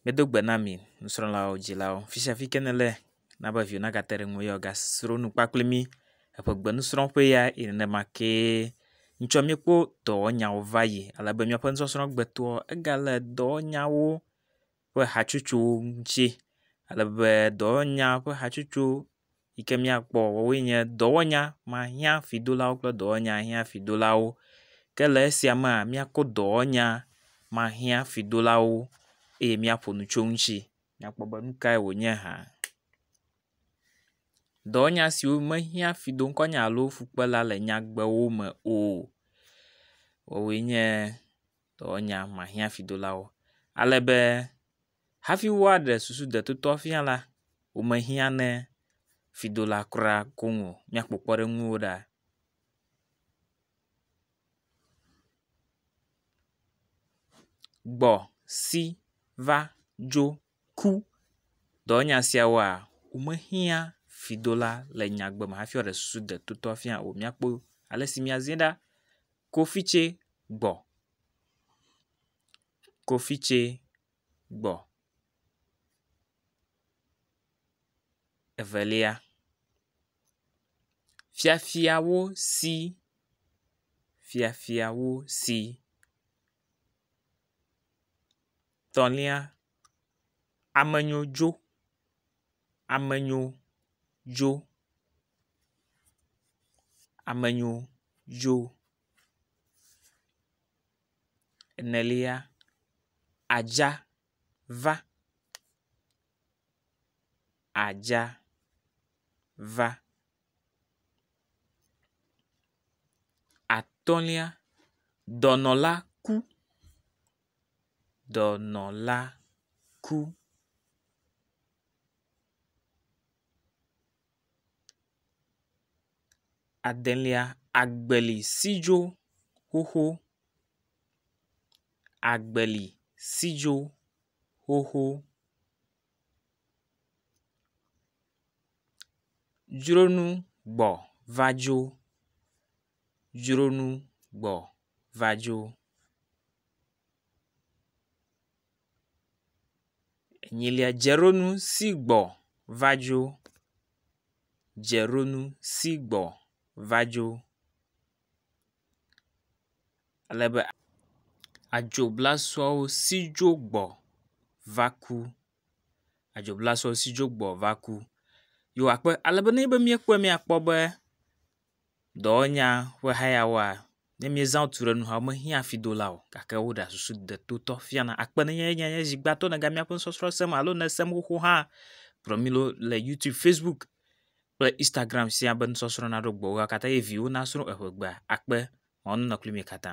Medo gbe na mi, nusrɔ̃lawo, dzilawo, fisiafi ke nèle na be viwò nagate ɖe ŋuwò ye wògasro nu kpakple mí. Eƒe gbenusrɔ̃ƒee ya yi nenema kee ŋutsɔ míekpɔ dɔwɔnyawo va yi ale be míaƒe nusɔsrɔ̃ gbe toa egale dɔwɔnyawo ƒe hatsotso ŋuti ale be dɔwɔnya ƒe hatsotso. yi ke míakpɔ woawoe nye dɔwɔnya mahiã fidolawo kple dɔwɔnya hiã fidolawo. Ke le esia mea míakpɔ dɔwɔnya mahiã fidolawo eye míaƒo nu tso eŋuti akpɔ be nu kae wonye hã. Dɔwɔnya siwo mehiã fidoŋkɔnya alo fukpela le nyagbewo me o woawoe nye dɔwɔnya mahiã fidolawo ale be. Hafi woaɖe susu detotɔa fia la, womehiã ne fidola kura koŋ o. Míakpɔ kpɔɖeŋuwo ɖa. Gbɔ, si, va, dzo, ku. Dɔwɔnya siawoa, womehiã fidola le nyagbe me hafi woaɖe susu detotɔa fia o. Míakpɔ ale si míaziɛ ɖa. Kofitse gbɔ. kofitse gbɔ. Evelia, fiafiawo si, fiafiawo si. Etɔ̃lia, amenyo dzo, amenyo dzo, amenyo dzo. enelia, adza va, adza va, atɔ̃lia, dɔnɔ la ku, dɔnɔ la ku. Adelia, agbeli sidzo xoxo, agbeli sidzo xoxo, dzronu gbɔ va dzo, dzronu gbɔ va dzo. Enyilia dzeɖonu si gbɔ va dzo. Dzeɖonu si gbɔ va dzo. Ale be adzoblasoawo si dzo gbɔ va ku. Adzoblasoawo si dzo gbɔ va ku. Yo akpɔ ale be ne míekpɔe míakpɔ be dɔwɔnya ƒe hayawoa, ne míezã tu ɖe nu hã mehiã fidola o gake woɖea susu detotɔ fiana. Akpe ɖe eŋu ne nye zi gbãtɔ nèga míaƒe nusɔsrɔ̃ sem alo ne èsem xoxo hã, kplɔ mí ɖo le Youtube, Facebook kple Instagram siaa be nusɔsrɔ̃ naɖo gbɔwò. Eya katã eye viwò nasrɔ̃ eƒe gbea. Akpe. Mawu nanɔ kpli mi katã.